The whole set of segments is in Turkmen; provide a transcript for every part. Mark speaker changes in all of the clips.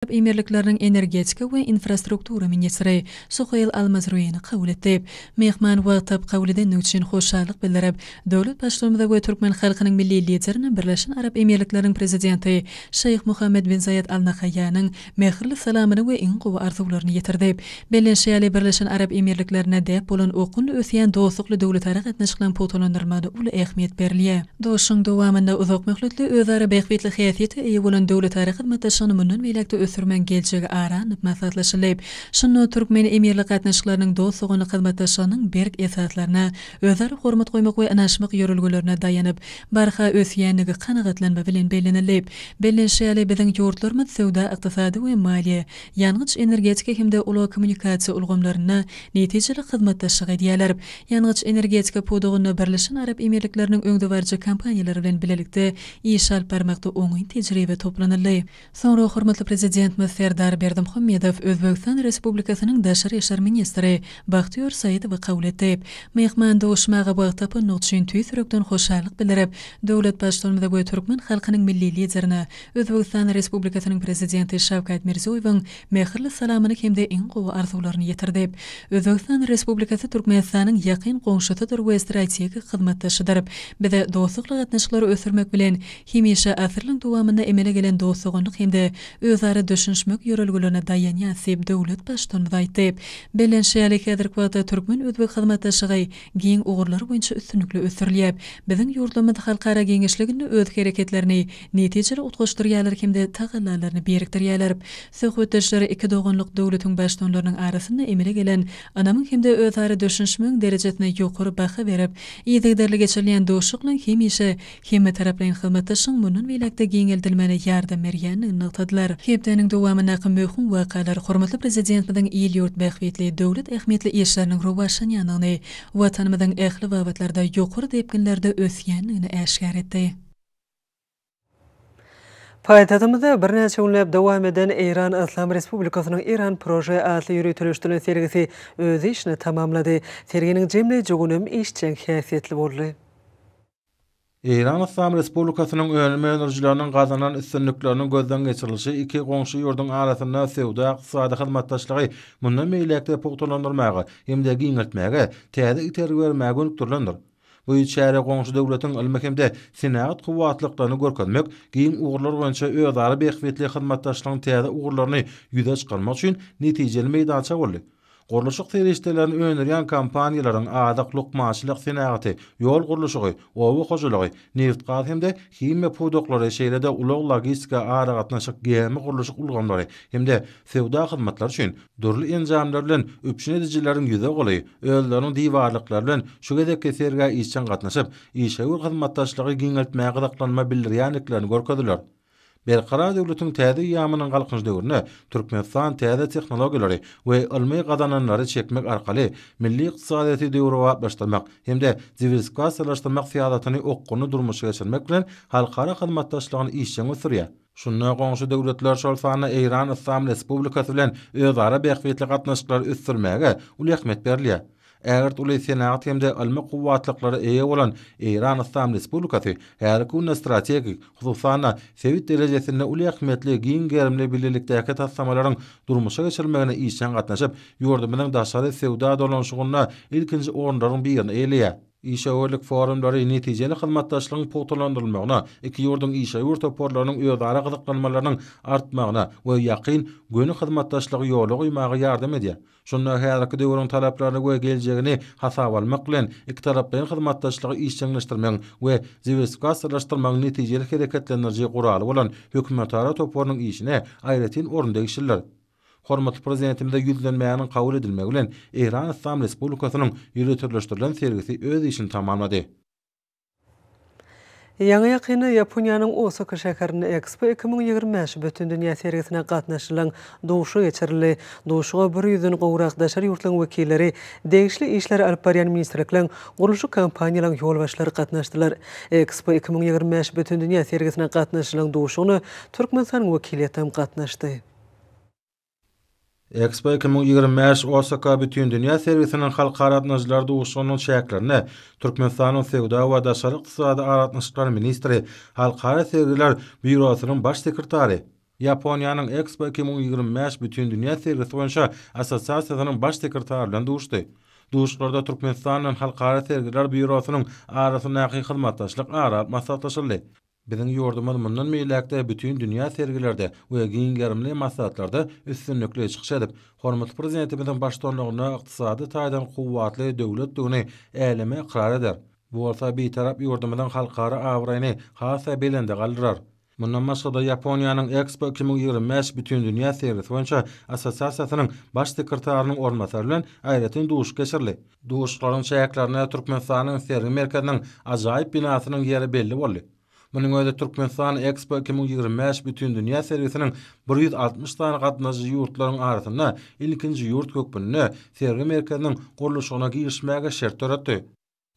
Speaker 1: Arap Emirlikleriniň energetika we infrastruktura ministri Suheýl al-Mazruini kabul etdi. Myhman wagtlap kabul edendigi üçin hoşallyk bildirip, döwlet Baştutanyma we türkmen halkynyň Milli Liderine Birleşen Arap Emirlikleriniň Prezidenti Şeýh Muhammed bin Zaýed al Nahaýýanyň mähirli salamyny we iň gowy arzuwlaryny ýetirdi. Belli şeýle Birleşen Arap Emirliklerinde däp bolan okgunly ösýän dostlukly döwletara gatnaşyklaryň pugtalandyrylmagyna uly ähmiýet berilýär. Duşuşygyň dowamynda uzak möhletli özara bähbitli häsiýete eýe bolan döwletara hyzmatdaşlygyny mundan beýläk-de ösdürmegiň geljegi ara alnyp maslahatlaşyldy. Şunda türkmen-emirlik gatnaşyklarynyň dost-doganlyk hyzmatdaşlygynyň berk esaslaryna, özara hormat goýmak we ynanyşmak ýörelgelerine daýanyp, barha ösýändigi kanagatlanma bilen bellenildi. Belli şeýle biziň ýurtlarymyz söwda-ykdysady we maliýe, ýangyç-energetika hem-de ulag-kommunikasiýa ulgamlarynda netijeli hyzmatdaşlyk edýärler. Ýangyç-energetika pudagynda Birleşen Arap Emirlikleriniň öňdebaryjy kompaniýalary bilen bilelikde iş alyp barmakda oňyn tejribe toplanyldy. Soňra hormatly Prezidentimiz Serdar Berdimuhamedow Özbegistan Respublikasynyň daşary işler ministri Bahtiýor Saidowy kabul etdi. Myhman duşmaga wagt tapandygy üçin tüýs ýürekden hoşallyk bildirip, döwlet Baştutanymyza we türkmen halkynyň Milli Liderine Özbegistan Respublikasynyň Prezidenti Şawkat Mirziýoýewiň mähirli salamyny hem-de iň gowy arzuwlaryny ýetirdi. Özbegistan Respublikasy Türkmenistanyň ýakyn goňşusydyr we strategik hyzmatdaşydyr. Biz dostlukly gatnaşyklary ösdürmek bilen, hemişe asyrlaryň dowamynda emele gelen dost-doganlyk hem-de özara düşünişmek ýörelgelerine daýanýas diýip, döwlet Baştutanymyz aýtdy. Bellenişi ýaly, häzirki wagtda türkmen-özbek hyzmatdaşlygy giň ugurlar boýunça üstünlikli ösdürilýär. Biziň ýurtlarymyz halkara giňişliginde öz hereketlerini netijeli utgaşdyrýarlar hem-de tagallalaryny birikdirýärler. Söhbetdeşler iki doganlyk döwletiň baştuanlarynyň arasynda emele gelen ynamyň hem-de özara düşünişmegiň derejesine ýokary baha berip, yzygiderli geçirilýän dostlukly hemişe hemmetaraplaýyn hyzmatdaşlygyň mundan beýläk-de giňeldilmegine ýardam berýändigini nygtadylar. Hepdäniň dowamyndaky möhüm wakalar hormatly Prezidentimiziň il-ýurt bähbitli, döwlet ähmiýetli işleriniň rowaçlanýandygyny, Watanymyzyň ähli babatlarda ýokary depginlerde ösýändigini äşgär etdi.
Speaker 2: Paýtagtymyzda birnäçe günläp dowam eden Eýran Yslam Respublikasynyň Iran Prože atly ýöriteleşdirilen sergisi öz işini tamamlady. Serginiň jemleýji günem işjeň häsiýetli boldy.
Speaker 3: Eýran Yslam Respublikasynyň önüm öndürijileriniň gazanan üstünlikleriniň gözden geçirilişi iki goňşy ýurduň arasynda söwda-ykdysady hyzmatdaşlygy mundan beýläk-de pugtalandyrmaga hem-de giňeltmäge täze itergi bermäge gönükdirilendir. Bu çäre goňşy döwletiň ylmy hem-de senagat kuwwatlyklaryny görkezmek, giň ugurlar boýunça özara bähbitli hyzmatdaşlygyň täze ugurlaryny ýüze çykarmak üçin netijeli meýdança boldy. Gurluşyk serişdelerini öndürýän kompaniýalaryň azyk, lukmançylyk senagaty, ýol gurluşygy, oba hojalygy, nebit-gaz hem-de himiýa pudaklary, şeýle-de ulag-logistika, aragatnaşyk, gämi gurluşyk ulgamlary hem-de Söwda hyzmatlary üçin dürli enjamlar bilen üpjün edijileriň ýüze goly özleriniň diwarlyklary bilen şu gezekki sergä işjeň gatnaşyp, işewür hyzmatdaşlygy giňeltmäge gyzyklanma bildirýändiklerini görkezdiler. Berkarar döwletiň täze eýýamynyň Galkynyş döwründe Türkmenistan täze tehnologiýalary we ylmy gazananlary çekmek arkaly milli ykdysadyýeti döwrebaplaşdyrmak hem-de diwersifikasiýalaşdyrmak syýasatyny okgunly durmuşa geçirmek bilen halkara hyzmatdaşlygyny işjeň ösdürýär. Şunda goňşy döwletler, şol sanda Eýran Yslam Respublikasy bilen özara bähbitli gatnaşyklary ösdürmäge uly ähmiýet berilýär. Ägirt uly senagat hem-de ylmy kuwwatlyklara eýe bolan Eýran Yslam Respublikasy häzirki günde strategik, hususan-da, sebit derejesinde uly ähmiýetli giň gerimli bilelikdäki taslamalaryň durmuşa geçirilmegine işjeň gatnaşyp, ýurdumyzyň daşary söwda dolanyşygynda ilkinji orunlaryň birini eýeleýär. Işewürlik forumlary netijeli hyzmatdaşlygyň pugtalandyrylmagyna, iki ýurduň işewür toparlarynyň özara gyzyklanmalarynyň artmagyna we ýakyn, göni hyzmatdaşlygy ýola goýmaga ýardam edýär. Şunda häzirki döwrüň talaplaryny we geljegini hasaba almak bilen, ikitaraplaýyn hyzmatdaşlygy işjeňleşdirmegiň we diwersifikasiýalaşdyrmagyň netijeli hereketlendiriji guraly bolan hökümetara toparynyň işine aýratyn orun degişlidir. Hormatly Prezidentimize ýüzlenmäniň kabul edilmegi bilen Eýran Yslam Respublikasynyň ýöriteleşdirilen sergisi öz işini tamamlady.
Speaker 2: Ýaňy-ýakynda Ýaponiýanyň Osaka şäherinde Ekspo iki müň ýigrimi bäş bütindünýä sergisine gatnaşylan duşuşyk geçirildi. Duşuşyga bir ýüzden gowrak daşary ýurtlaryň wekilleri, degişli işleri alyp barýan ministrlikleriň, gurluşyk kompaniýalaryň ýolbaşçylary gatnaşdylar. Ekspo iki müň ýigrimi bäş bütindünýä sergisine gatnaşylan duşuşygyna Türkmenistanyň wekiliýetem gatnaşdy.
Speaker 3: Expo 2025 Osaka Bütindünýä sergisiniň halkara gatnaşyjylar duşuşygynyň çäklerinde Türkmenistanyň Söwda we daşary ykdysady aragatnaşyklar ministri, Halkara sergiler býurosynyň baş sekretary, Ýaponiýanyň Expo 2025 Bütindünýä sergisi boýunça assosiasiýasynyň baş sekretary bilen duşdy. Duşuşyklarda Türkmenistan bilen Halkara sergiler býurosynyň arasyndaky hyzmatdaşlyk ara alyp maslahatlaşyldy. Biziň ýurdumyz mundan beýläk-de bütin dünýä sergilerde we giň gerimli maslahatlarda üstünlikli çykyş edip, hormatly Prezidentimiziň baştutanlygynda ykdysady taýdan kuwwatly döwletdigini äleme ykrar eder. Bu bolsa Bitarap ýurdumyzyň halkara abraýyny has-da belende galdyrar. Mundan başga-da, Ýaponiýanyň Expo iki müň ýigrimi bäş Bütindünýä sergisi boýunça assosiasiýasynyň Baş sekretarynyň orunbasary bilen aýratyn duşuşyk geçirildi. Duşuşyklaryň çäklerinde Türkmenistanyň sergi merkeziniň ajaýyp binasynyň ýeri belli boldy. Munuň özi Türkmenistan Expo iki müň ýigrimi bäş bütindünýä sergisiniň bir ýüz altmyş sany gatnaşyjy ýurtlaryň arasynda ilkinji ýurt hökmünde sergi merkeziniň gurluşygyna girişmäge şert döretdi.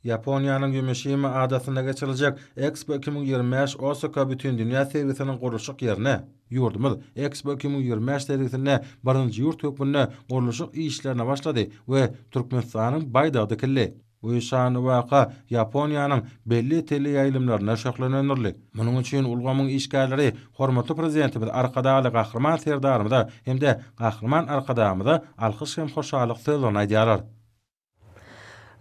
Speaker 3: Ýaponiýanyň Ýumişima adasynda geçiriljek Expo iki müň ýigrimi bäş Osaka bütindünýä sergisiniň gurluşyk ýerine, Ýurdumyz Expo iki müň ýigrimi bäş sergisinde birinji ýurt hökmünde gurluşyk işlerine başlady we Türkmenistanyň baýdagy dikildi. Bu şanly waka Ýaponiýanyň belli teleýaýlymlarynda şöhlelendirildi. Munuň üçin ulgamyň işgärleri hormatly Prezidentimiz Arkadagly Gahryman Serdarymyza hem-de Gahryman Arkadagymyza alkyş hem hoşallyk sözlerini aýdýarlar.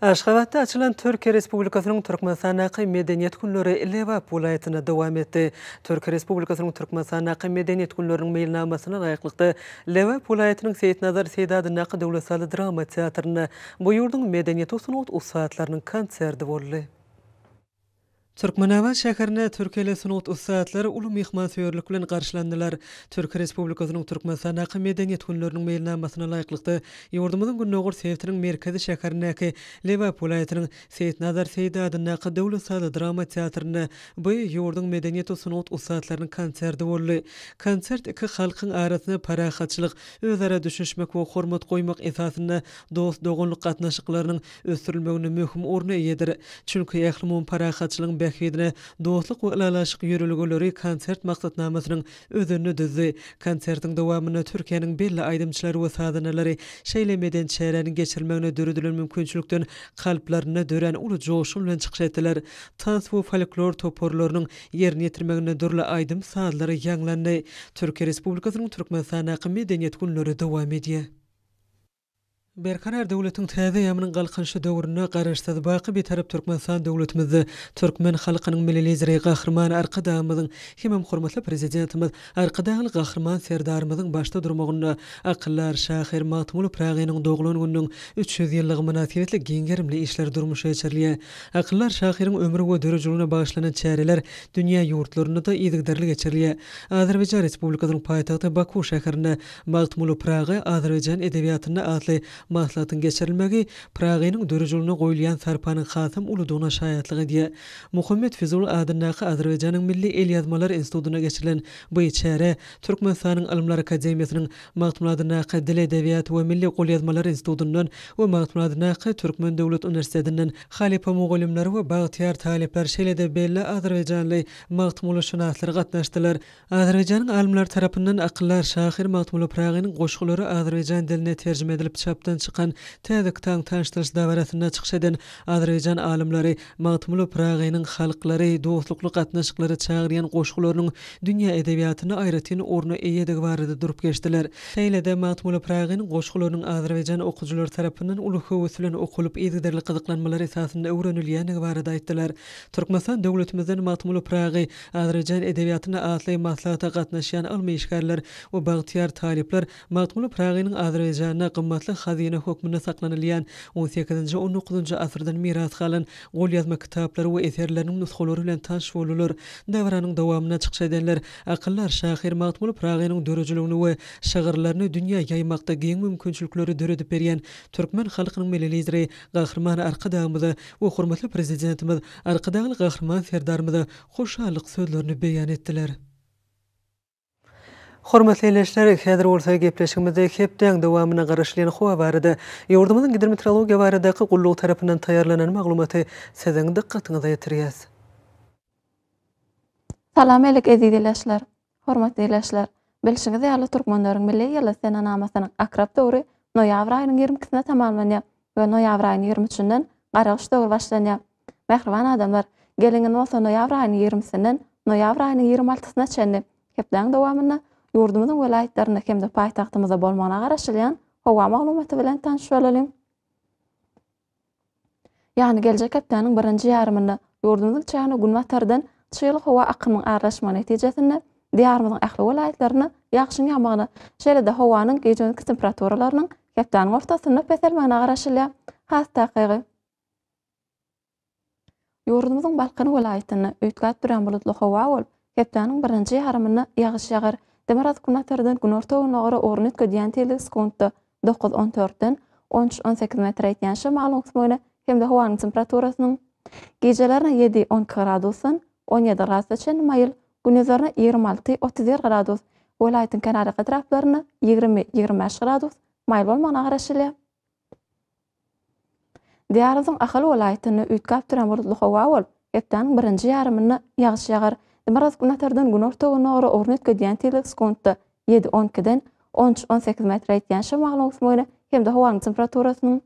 Speaker 3: Aşgabatda
Speaker 2: açylan Türkiýe Respublikasynyň Türkmenistandaky Medeniýet günleri Lebap welaýatynda dowam etdi. Türkiýe Respublikasynyň Türkmenistandaky Medeniýet günleriniň meýilnamasyna laýyklykda, Lebap welaýatynyň Seýitnazar Seýdi adyndaky döwlet sazly drama teatrynda bu ýurduň medeniýet we sungat ussatlarynyň konserti boldy. Türkmenabat şäherinde türkiýeli sungat ussatlary uly myhmansöýerlik bilen garşylandylar. Türkiýe Respublikasynyň Türkmenistandaky Medeniýet günleriniň meýilnamasyna laýyklykda, ýurdumyzyň gündogar sebitiniň merkezi şäherindäki Lebap welaýatynyň Seýitnazar Seýdi adyndaky döwlet sazly-drama teatrynda bu ýurduň medeniýet we sungat ussatlarynyň konserti boldy. Konsert iki halkyň arasynda parahatçylyk, özara düşünişmek we hormat goýmak esasynda dost-doganlyk gatnaşyklarynyň ösdürilmeginde möhüm orna eýedir. Çünki ählumumy parahatçylygyň bähbidine Dostluk we ylalaşyk ýörelgeleri konsert maksatnamasynyň özenini düzdi. Konsertiň dowamynda Türkiýäniň belli aýdymçylary we sazandalary şeýle medeni çäräniň geçirilmegine döredilen mümkinçilikden kalplarynda dörän uly joşgun bilen çykyş etdiler. Tans we folklor toparlarynyň ýerine ýetirmeginde dürli aýdym-sazlar ýaňlandy. Türkiýe Respublikasynyň Türkmenistandaky Medeniýet günleri dowam edýär. Berkarar döwletiň täze eýýamynyň Galkynyşy döwründe Garaşsyz, baky Bitarap Türkmenistan döwletimizde türkmen halkynyň Milli Lideri Gahryman Arkadagymyzyň hemem hormatly Prezidentimiz Arkadagly Gahryman Serdarymyzyň başda durmagynda akyldar şahyr Magtymguly Pyragynyň doglan gününiň üç ýüz ýyllygy mynasybetli giň gerimli işler durmuşa geçirilýär. Akyldar şahyryň ömri we döredijiligine bagyşlanan çäreler dünýä ýurtlarynda-da yzygiderli geçirilýär. Azerbaýjan Respublikasynyň paýtagty Baku şäherinde Magtymguly Praga azerbaýjan edebiýatynda atly maslahatyň geçirilmegi Praganyň dörüjüligine goýulýan sarpanyň hasam uludygyna şaýatlyk edýär. Muhammet Fizul adyndaky Azerbaýjanyň Milli elýazmalar institutynda geçirilen bu çärä Türkmenistanyň Ylymlar akademiýasynyň Magtymguly adyndaky Dil, edebiýat we milli golýazmalar institutyndan we Magtymguly adyndaky Türkmen döwlet uniwersitetinden halypa mugallymlar we bagtyýar talyplar, şeýle-de belli azerbaýjanly magtymgulyşynaslar gatnaşdylar. Azerbaýjanyň alymlary tarapyndan akyldar şahyr Magtymguly Pyragynyň goşgulary azerbaýjan diline terjime edilip çapdan çykan täze kitabyň tanyşdyryş dabarasynda çykyş eden azerbaýjan alymlary Magtymguly Pyragynyň halklary dostlukly gatnaşyklara çagyrýan goşgularynyň dünýä edebiýatynda aýratyn orna eýedigi barada durup geçdiler. Şeýle-de Magtymguly Pyragynyň goşgularynyň azerbaýjan okyjylary tarapyndan uly höwes bilen okulyp, yzygiderli gyzyklanmalar esasynda öwrenilýändigi barada aýtdylar. Türkmenistan döwletimizden Magtymguly Pyragy Azerbaýjan edebiýatyna atly maslahata gatnaşýan ylmy işgärler we bagtyýar talyplar Magtymguly Pyragynyň Azerbaýjanda gymmatly hazyna hökmünde saklanylýan on sekizinji-on dokuzynjy asyrdan miras galan golýazma kitaplary we eserleriniň nusgalary bilen tanyş boldular. Dabaranyň dowamynda çykyş edenler akyldar şahyr Magtymguly Pyragynyň döredijiligini we şygyrlaryny dünýä ýaýmakda giň mümkinçilikleri döredip berýän türkmen halkynyň Milli Lideri Gahryman Arkadagymyza we hormatly Prezidentimiz Arkadagly Gahryman Serdarymyza hoşallyk sözlerini beýan etdiler. Hormatly ildeşler, häzir bolsa gepleşigimizde hepdäň dowamynda garaşylýan howa barada, ýurdumyzyň Gidrometeorologiýa baradaky gullugy tarapyndan taýýarlanan maglumaty siziň dykgatyňyza ýetirýäs.
Speaker 4: Salam Elek eziz ileşler! Hormatly ildeşler! Bilşiňiz ýaly, türkmenleriň milli ýyly senenamasynyň akrap döwri noýabr aýynyň ýigrimi ikisinde tamamlanýar we noýabr aýynyň ýigrimi üçünden gargyş döwri başlanýar. Mähriban adamlar, geliň indi bolsa noýabr aýynyň ýigrimisinden noýabr aýynyň ýigrimi altysyna çenli hepdäň dowamynda ýurdumyzyň welaýatlarynda hem-de paýtagtymyzda bolmagyna garaşylýan howa maglumaty bilen tanyş bolalyň. Ýagny geljek hepdäniň birinji ýarymynda ýurdumyzyň çägine günbatardan çygly howa akymynyň aralaşmagy netijesinde, Diýarymyzyň ähli welaýatlarynda ýagşyň ýagmagyna, şeýle-de howanyň gije-gündizki temperaturalarynyň hepdäniň ortasynda peselmegine garaşylýar. Has takygy. Ýurdumyzyň Balkan welaýatynda üýtgäp durýan bulutly howa bolup, hepdäniň birinji ýarymynda ýagyş ýagar, demirgazyk-günbatardan günorta-gündogar ugruny üýtgedýän tizligi sekuntda dokuz-on dörtden on üç-on sekiz metre ýetýän şemalyň öwüsmegine hem-de howanyň temperaturasynyň gijelerine ýedi-on iki gradusdan on ýedi gradusa çenli maýyl, gündizlerine ýigrimi alty-otuz bir gradus, welaýatyň kenarýaka etraplarynda ýigrimi-ýigrimi bäş gradus maýyl bolmagyna garaşylýar. Diýarymyzyň Ahal welaýatynda üýtgäp duran bulutly howa bolup, hepdäniň birinji ýarymynda ýagyş ýagar. Demirgazyk-Günbatardan günorta-gündogar ara ugruny üýtgedýän tizlik sekuntda ýedi, on ikiden on üç, on sekiz metre ýetýän şemagyň öwsmegine hem-de howanyň temperaturasynyň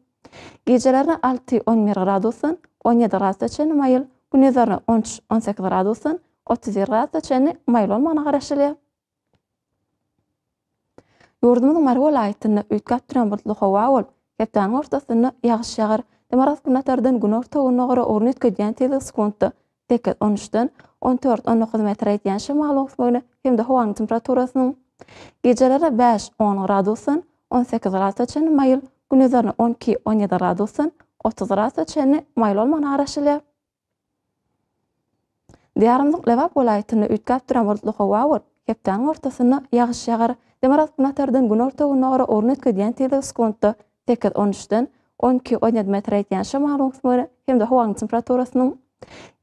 Speaker 4: gijelerine alty, on bir gradusdan on ýedi gradusa çenli maýyl, gündizlerine on üç, on sekiz gradusdan otuz bir gradusa çenli maýyl bolmagyna garaşylýar. Ýurdumyzyň Mary welaýatynda üýtgäp duran bulutly howa bolup, hepdäniň ortasynda ýagyş ýagar. Demirgazyk-günbatardan günorta-gündogara ugruny üýtgedýän tizligi sekuntda sekiz, on üçden on dört, on dokuz metre ýetýän şemalyň öwüsmegine hem-de howanyň temperaturasynyň gijeleri bäş, on gradusdan on sekiz gradusa çenli maýyl, gündizlerine on iki, on ýedi gradusdan otuz gradusa çenli maýyl bolmagyna garaşylýar. Diýarymyzyň Lebap welaýatynda üýtgäp duran bulutly howa bolup, hepdäniň ortasynda ýagyş ýagar. Demirgazyk-günortadan günorta-gündogara ugruny üýtgedýän tizligi sekuntda sekiz, on üçden on iki, on ýedi metr ýetýän şamalyň öwsmegine hem-de howanyň temperaturasynyň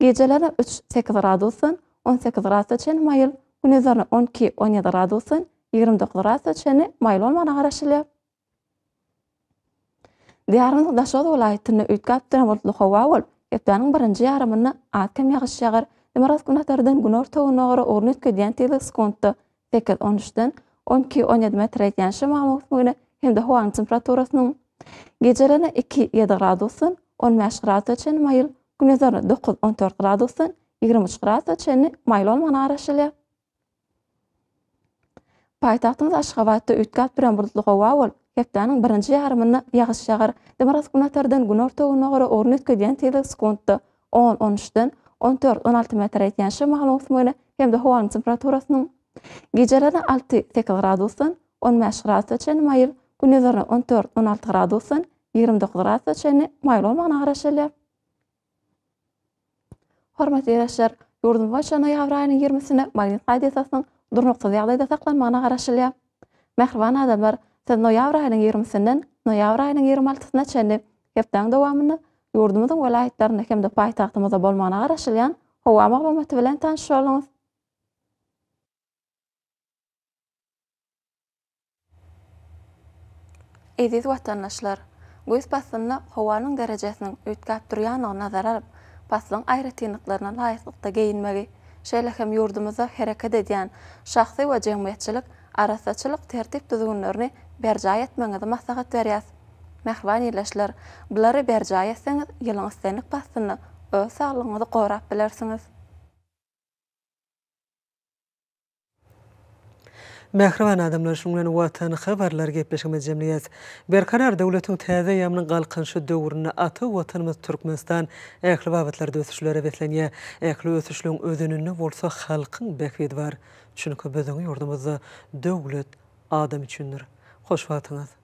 Speaker 4: gijelerine üç, sekiz gradusdan on sekiz gradusa çenli maýyl, gündizlerine on iki, on ýedi gradusdan ýigrimi dokuz gradusa çenli maýyl bolmagyna garaşylýar. Diýarymyzyň Daşoguz welaýatynda üýtgäp duran bulutly howa bolup, hepdäniň birinji ýarymynda az-kem ýagyş ýagar, demirgazyk-günbatardan günorta-gündogara ugry üýtgedýän tizlik sekuntda sekiz, on üçden on iki, on ýedi metr ýetýän şemalyň öwüsmegine hem-de howanyň temperaturasynyň gijelerine iki, ýedi gradusdan on bäş gradusa çenli maýyl, gündizlerine dokuz, on dört gradusdan ýigrimi üç gradusa çenli maýyl bolmagyna garaşylýar. Paýtagtymyz Aşgabatda üýtgäp duran bulutly howa bolup, hepdäniň birinji ýarymynda ýagyş ýagar. Demirgazyk-günortadan günorta-günbagara ugruny üýtgedýän tizlik sekuntda on, on üçden on dört, on alty metr ýetýän şemalyň öwsmegine hem-de howanyň temperaturasynyň gijelerine alty, sekiz gradusdan on bäş gradusa çenli maýyl, gündizlerine on dört, on alty gradusdan ýigrimi dokuz gradusa çenli maýyl bolmagyna garaşylýar. Hormatly ildeşler, ýurdumyz boýunça noýabr aýynyň ýigrimisine magnit radiasasynyň durnuksyz ýagdaýda saklanmagyna garaşylýar. Mähriban adamlar, siz noýabr aýynyň ýigrimisinden noýabr aýynyň ýigrimi altysyna çenli hepdäň dowamynda ýurdumyzyň welaýatlarynda hem-de paýtagtymyzda bolmagyna garaşylýan howa maglumaty bilen tanyşyp oldunuz. Eziz watandaşlar! Güýz paslynda howanyň derejesiniň üýtgäp durýandygyny nazara alyp, paslyň aýratynlyklaryna laýyklykda geýinmegi, şeýle hem ýurdumyzda hereket edýän şahsy we jemgyýetçilik arassaçylyk tertip-düzgünlerini berjaý etmegiňizi maslahat berýäs. Mähriban ildeşler, bulary berjaý etseňiz, ýylyň islendik paslynda öz saglygyňyzy gorap bilersiňiz.
Speaker 2: Mähriban adamlar şuň bilen Watan habarlar gepleşigimizi jemleýäs. Berkarar döwletiň täze eýýamynyň Galkynyşy döwründe ata Watanymyz Türkmenistan ähli babatlarda ösüşlere beslenýär. Ähli ösüşligiň özeninde bolsa halkyň bähbidi bar. Çünki biziň ýurdumyzda döwlet adam üçindir. Hoş wagtyňyz.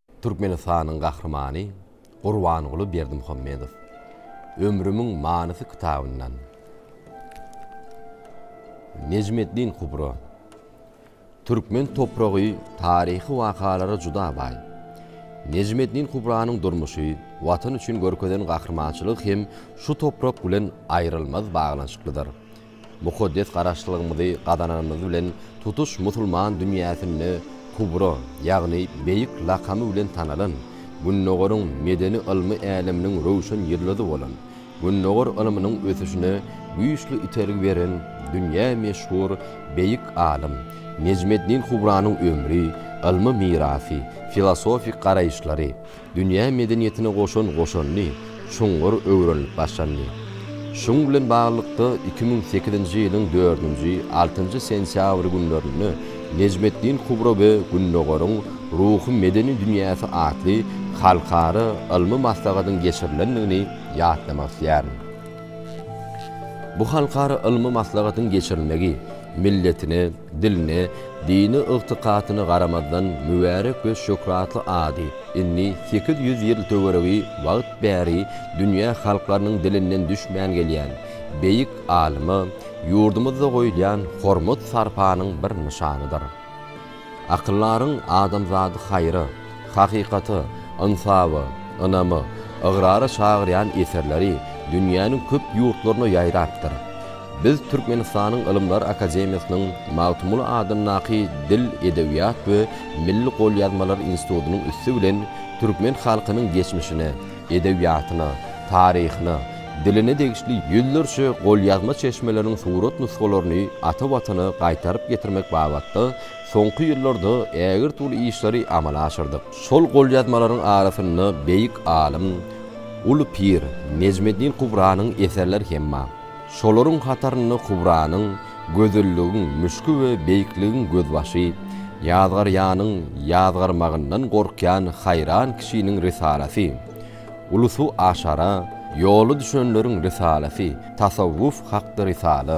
Speaker 5: Türkmenistanyň Gahrymany Gurbanguly Berdimuhamedow Ömrümiň manysy kitabyndan Nejmeddin Kubro Türkmen topragy taryhy wakalara juda baý. Nejmeddin Kubranyň durmuşy, Watan üçin görkezen gahrymançylygy hem şu toprak bilen aýrylmaz baglanyşyklydyr. Mukaddes Garaşlygymyzy gazananymyz bilen tutuş musulman dünýäsinde Kubro, ýagny Beýik lakamy bilen tanalan, Gündogaryň medeni-ylmy äleminiň röwşen ýyldyzy bolan, Gündogar ylmynyň ösüşine güýçli itergi beren dünýä meşhur beýik alym Nejmeddin Kubranyň ömri, ylmy mirasy, filosofik garaýyşlary, dünýä medeniýetine goşan goşandy çuňňur öwrenilip başlandy. Şuň bilen baglylykda, iki müň sekizinji ýylyň dördünji, altynjy sentýabr günlerinde Nejmetdin Kubro we Gündogaryň ruhy-medeni dünýäsi atly halkara ylmy maslahatyň geçirilendigini ýatlamak isleýärin. Bu halkara ylmy maslahatyň geçirilmegi milletine, Diline, dini ygtykatyna garamazdan mübärek we şöhratly ady indi sekiz ýüz ýyl töweregi wagt bäri dünýä halklarynyň dilinden düşmän gelýän beýik alyma ýurdumyzda goýulýan hormat-sarpanyň bir nyşanydyr. Akyldaryň adamzady haýra. hakykata, ynsafa, ynama, ygrara çagyrýan eserleri dünýäniň köp ýurtlaryna ýaýrapdyr. Biz Türkmenistanyň Ylymlar akademiýasynyň Magtymguly adyndaky Dil, edebiýat we milli golýazmalar institutynyň üsti bilen türkmen halkynyň geçmişine, edebiýatyna, taryhyna, diline degişli ýüzlerçe golýazma çeşmeleriň surat nusgalaryny ata Watana gaýtaryp getirmek babatda Soňky ýyllarda ägirt uly işleri amala aşyrdyk. Şol golýazmalaryň arasynda beýik alym, uly pir Nejmeddin Kubranyň eserleri hem bar. Şolaryň hatarynda Kubranyň Gözelligiň müşki we Beýikligiň gözbaşy, Ýazgarýanyň ýazgarmagyndan gorkýan haýran kişiniň risalasy, Uly suw aşara ýola düşenleriň risalasy, Tasawwuf hakda risala,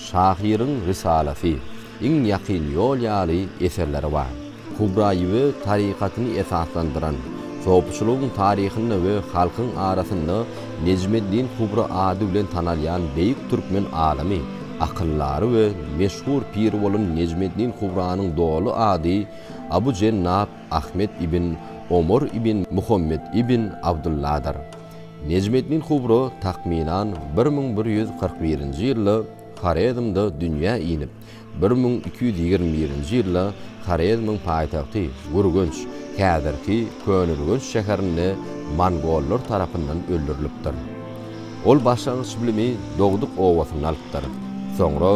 Speaker 5: Şahyryň Rysalasy, Iň ýakyn ýol ýaly eserleri bar. Kubra ýüwe tarykatyny esaslandyran, sopçylygyň taryhynda we halkyň arasynda Nejmeddin Kubra ady bilen tanalýan beýik türkmen alymy, akyldary we meşhur piri bolan Nejmeddin Kubranyň doly ady Abu Jennap Ahmet ibn Omar ibn Muhammet ibn Abdulladyr. Nejmeddin Kubro takmynan bir müň bir ýüz kyrk birinji ýylda Horezmde dünýä inip, bir müň iki ýüz ýigrimi birinji ýylda Horezmiň paýtagty Gürgenç, häzirki Köneürgenç şäherinde mongollar tarapyndan öldürilipdir. Ol başlangyç bilimi dogduk obasynda alypdyr. Soňra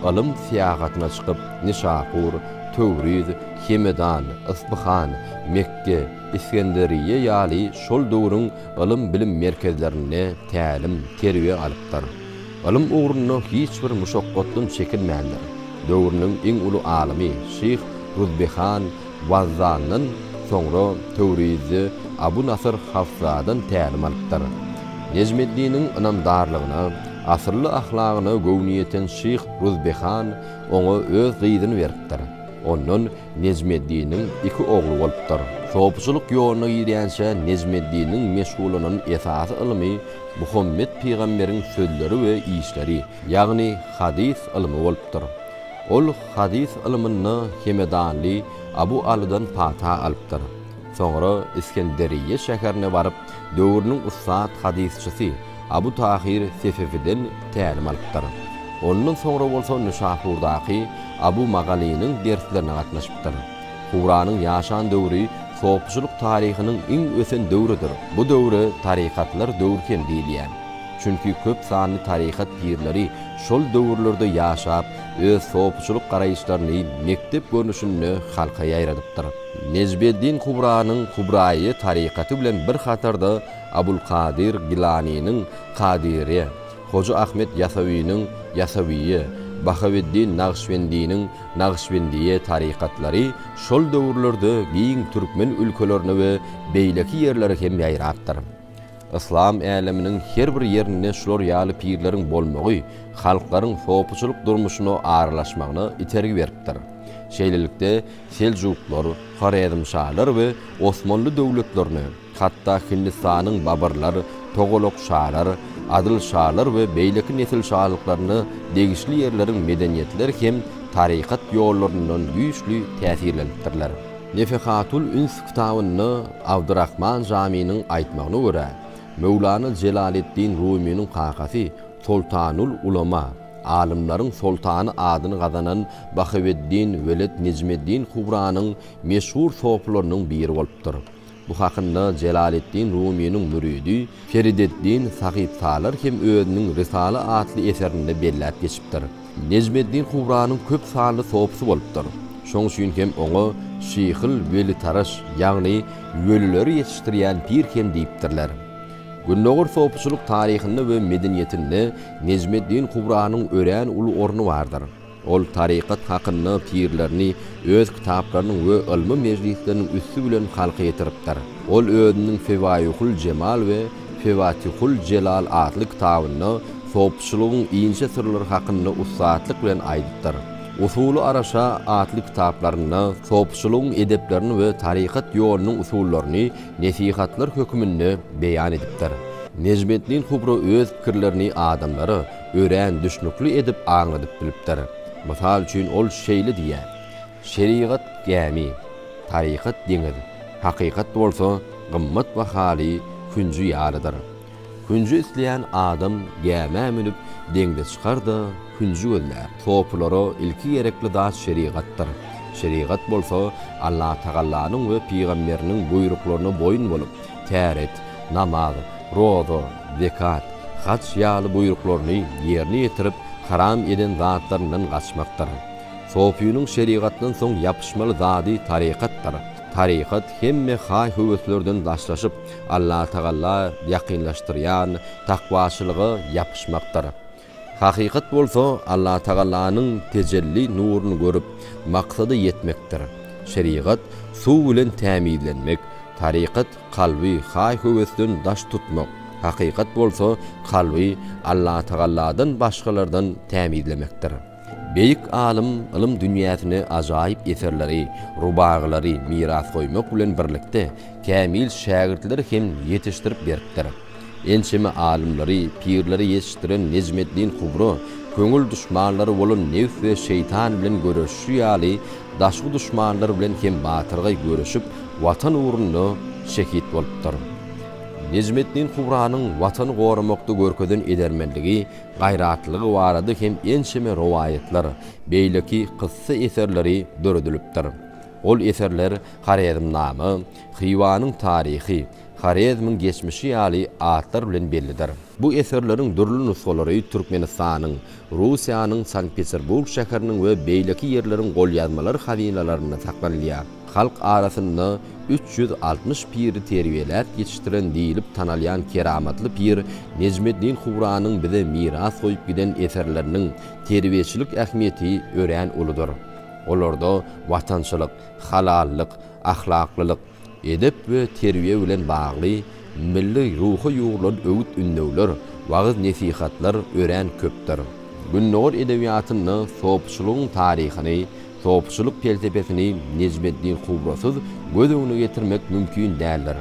Speaker 5: ylym syýagatyna çykyp Nişapur, Töwriz, Hemedan, Yspyhan, Mekge, Isgenderiýe ýaly şol döwrüň ylym-bilim merkezlerinde tälim, terbiýe alypdyr. Ylym ugrunda hiç bir muşakgatdan çekinmändir. Döwrüniň iň uly alymy şyh Ruzbehan Wazzandan, soňra Töwrizde Abu Nasyr Hafsadan tälim alypdyr. Nejmeddiniň ynamdarlygyna, asylly ahlagyna göwni ýeten şyh Ruzbehan oňa öz gyzyny beripdir. Ondan Nejmeddiniň iki ogly bolupdyr. Sopçylyk ýoluna girýänçä Nejmeddiniň meşgullanan esasy ylmy Muhammet pygamberiň sözleri we işleri, ýagny hadys ylmy bolupdyr. Ol hadys ylmynda hemedanly Abu Alydan pata alypdyr. Soňra Iskenderýe şäherine baryp, döwrüniň ussat hadysçysy Abu Tahyr Sefewiden tälim alypdyr. Ondan soňra bolsa Nyşapurdaky Abu Magalynyň derslerine gatnaşypdyr. Huranyň ýaşan döwri sopyçylyk taryhynyň iň ösen döwrüdir. Bu döwre tarykatlar döwri hem diýilýär. Çünki köp sanly tarykat pirleri şol döwürlerde ýaşap, öz sopyçylyk garaýyşlaryny mekdep görnüşinde halka ýaýradypdyr. Nejmeddin Kubranyň Kubraýy tarykaty bilen bir hatarda Abulkadyr Gilanynyň Kadyryýe, Hoja Ahmet Ýasawynyň Ýasawyýe, Bahaweddin Nagyşbendiniň Nagyşbendiýe tarykatlary şol döwürlerde giň türkmen ülkelerine we beýleki ýerlere hem ýaýrapdyr. Yslam äleminiň her bir ýerinde şular ýaly pirleriň bolmagy halklaryň sopuçylyk durmuşyna aralaşmagyna itergi beripdir. Şeýlelikde, Seljuklar, Horezmşalar we Osmanly döwletlerine, hatda Hindistanyň Babarlar, Togolok şalar, Adyl şalar we beýleki nesil şalyklaryna degişli ýerleriň medeniýetleri hem tarykat ýollaryndan güýçli täsirlenipdirler. Nefehatul üns kitabynda Abdyrahman Jamynyň aýtmagyna görä, Möwlana Jelaleddin Rumynyň kakasy Soltanul ulema, alymlaryň soltany adyny gazanan Bahaweddin Weled Nejmeddin Kubranyň meşhur sopylarynyň biri bolupdyr. Bu hakynda Jelaleddin Rumynyň müridi Ferideddin Sahypsalar hem özüniň Rysala atly eserinde belläp geçipdir. Nejmeddin Kubranyň köp sanly sopysy bolupdyr. Şoň üçin hem oňa Şyhyl Welitaraş, ýagny Welileri ýetişdirýän pir hem diýipdirler. Gündogar sopyçylyk taryhynda we medeniýetinde Nejmeddin Kubranyň örän uly orny bardyr. Ol tarykat hakynda pikirlerini öz kitaplarynyň we ylmy mejlisleriniň üsti bilen halka ýetiripdir. Ol özüniň Fewaihul Jemal we Fewatihul Jelal atly kitabynda sopçylygyň inçe syrlary hakynda ussatlyk bilen aýdypdyr. Usuly Araşa atly kitaplarynda sopçylygyň edeplerini we tarykat ýolunyň usullaryny nesihatlar höküminde beýan edipdir. Nejmeddin Kubra öz pikirlerini adamlara, örän düşnükli edip aňladyp bilipdir. Mysal üçin, ol şeýle diýýär, Şerigat gämi, tarykat deňiz, hakykat bolsa gymmat bahaly künji ýalydyr. Künji isleýän adam gämä münüp, deňze çykar-da, künji gözlär. Sopylara ilki gerekli zat şerigatdyr. Şerigat bolsa Allatagallanyň we pygamberiniň buýruklaryna boýun bolup, täret, namaz, roza, zekat, haj ýaly buýruklaryny ýerine ýetirip, haram eden zatlaryndan gaçmakdyr. Sofynyň şerigatdan soň ýapyşmaly zady tarykatdyr. Tarykat hemme haý-höweslerden daşlaşyp, Allatagala ýakynlaşdyrýan takwaçylyga ýapyşmakdyr. Hakykat bolsa Allatagalanyň tejelli nuruny görüp, maksada ýetmekdir. Şerigat, suw bilen tämizlenmek, tarykat, kalby haý-höwesden daş tutmak, hakykat bolsa, kalby Allatagalladan başgalardan tämizlemekdir. Beýik alym ylym dünýäsine ajaýyp eserleri, rubagylary miras goýmak bilen birlikde, kämil şägirtleri hem ýetişdirip beripdir. Ençeme alymlary, pirleri ýetişdiren Nejmeddin Kubro köňül duşmanlary bolan nebs we şeýtan bilen göreşişi ýaly, daşky duşmanlar bilen hem batyrgaý göreşip, Watan ugrunda şehit bolupdyr. Nejmeddin Kubranyň Watany goramakda görkezen edermenligi, gaýratlylygy barada hem ençeme rowaýatlar, beýleki kyssa eserleri döredilipdir. Ol eserler Horezmnama, Hywanyň taryhy, Horezmiň geçmişi ýaly atlar bilen bellidir. Bu eserleriň dürli nusgalary Türkmenistanyň, Russiýanyň Sankt-Peterburg şäheriniň we beýleki ýerleriň golýazmalar hazynalarynda saklanylýar. Halk arasynda üç ýüz altmyş piri terbiýeläp ýetişdiren diýlip tanalýan keramatly pir Nejmeddin Huranyň bize miras goýup giden eserleriniň terbiýeçilik ähmiýeti örän uludyr. Olarda watançylyk, halallyk, ahlaklylyk, edep we terbiýe bilen bagly milli ruha ýugrulan öwüt-ündewler, wagyz-nesihatlar örän köpdür. Gündogar edebiýatynda sopçylygyň taryhyny Sopçylyk pelsepesini Nejmeddin Kubrasyz göz öňüne getirmek mümkin däldir.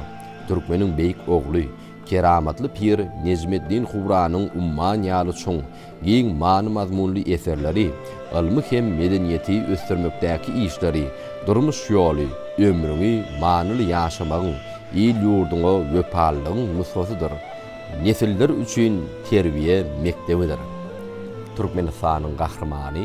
Speaker 5: Türkmeniň beýik ogly, keramatly pir Nejmeddin Kubranyň umman ýaly çuň, giň many-mazmunly eserleri, ylmy hem medeniýeti ösdürmekdäki işleri, durmuş ýoly, ömrüňi manyly ýaşamagyň, il-ýurduňa wepalylygyň nusgasydyr, nesiller üçin terbiýe mekdebidir. Türkmenistanyň Gahrymany.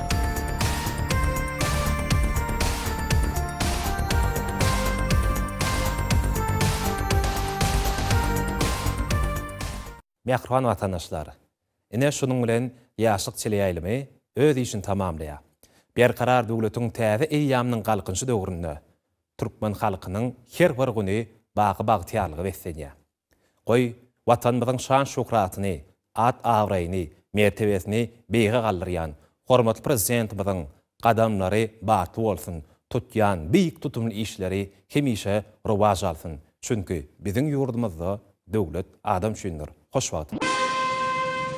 Speaker 6: Mähriban watandaşlar! Ine şunuň bilen Ýaşlyk çile ýaýlymy öz işini tamamlaýar. Berkarar döwletiň täze eýýamynyň galkynyşy döwründe türkmen halkynyň her bir güni baky bagtyýarlyga beslenýär. Goý, Watanymyzyň şan-şöhratyny, at-abraýyny, mertebesini beýige galdyrýan hormatly Prezidentimiziň gadamlary batly bolsun, tutýan beýik tutumly işleri hemişe rowaç alsyn! Çünki biziň ýurdumyzda döwlet adam üçindir! Hoş wagt!